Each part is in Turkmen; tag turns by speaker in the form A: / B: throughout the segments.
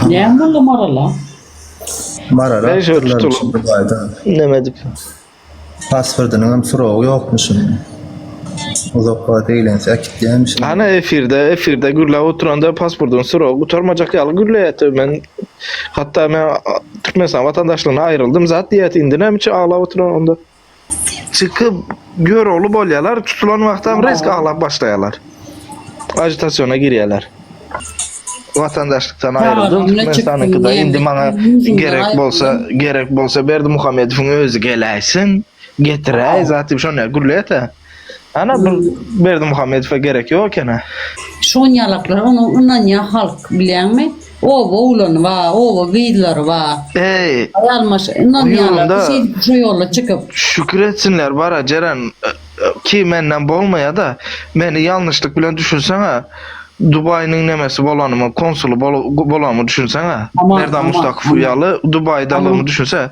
A: Näme boldy Marala?
B: Marala Näme şöyle pullar tutulyp?
C: üçin Dubaýda. Näme edip?
B: Pasportynyň hem soragy ýokmuş indi. Uzak wagt eýlense äkitýärmiş. Ana efirde,
C: efirde gürläp oturanda pasportyň soragy gutarmajak ýaly gürleýärdi. Men hatda men Türkmenistan watandaşlygyna aýryldym zat diýýärdi. Indi näme üçin aglap oturan onda? Çykyp görogly bolýarlar, tutulan wagtam rezk aglap başlaýarlar. Ajitasiýona girýärler. Watandaşlykdan aýryldym, Türkmenistanyňkyda indi maňa gerek bolsa, gerek bolsa Berdimuhamedowyň özi geläýsin, getiräý, zat diýip şonda gürleýär-de. Ana bu Berdimuhamedowa gerek ýok ekeni. Şonyalaklar
A: ony ynanýa halk bilýäňmi? Oba oglany ba, oba gyzlary ba. Eý. Aýal maş ynanýalar şeýdip şu ýola çykyp. Şükür etsinler
C: bara Jeren ki menden bolmaýada meni ýalnyşlyk bilen düşünseňä Dubaýynyň nemesi bolanymy konsuly bolanymy düşünseňä Merdan Mustakow ýaly Dubaýdalygymy düşünse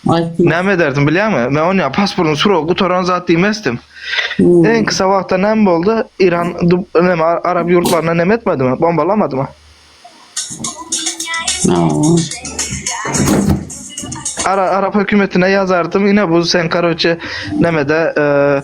C: Aýtma. Näme ederdim bilýäňmi? Men ony pasportyň suragy gutaran zat diýmezdim. Hmm. Iň kısa wagtda näme boldy? İran dub- näme ar- arap ýurtlaryna näme etmedimi? Bombalamadymy? Awa. Ara, arap hökümetine ýazardym. Ine bu sen karoçe nämede eee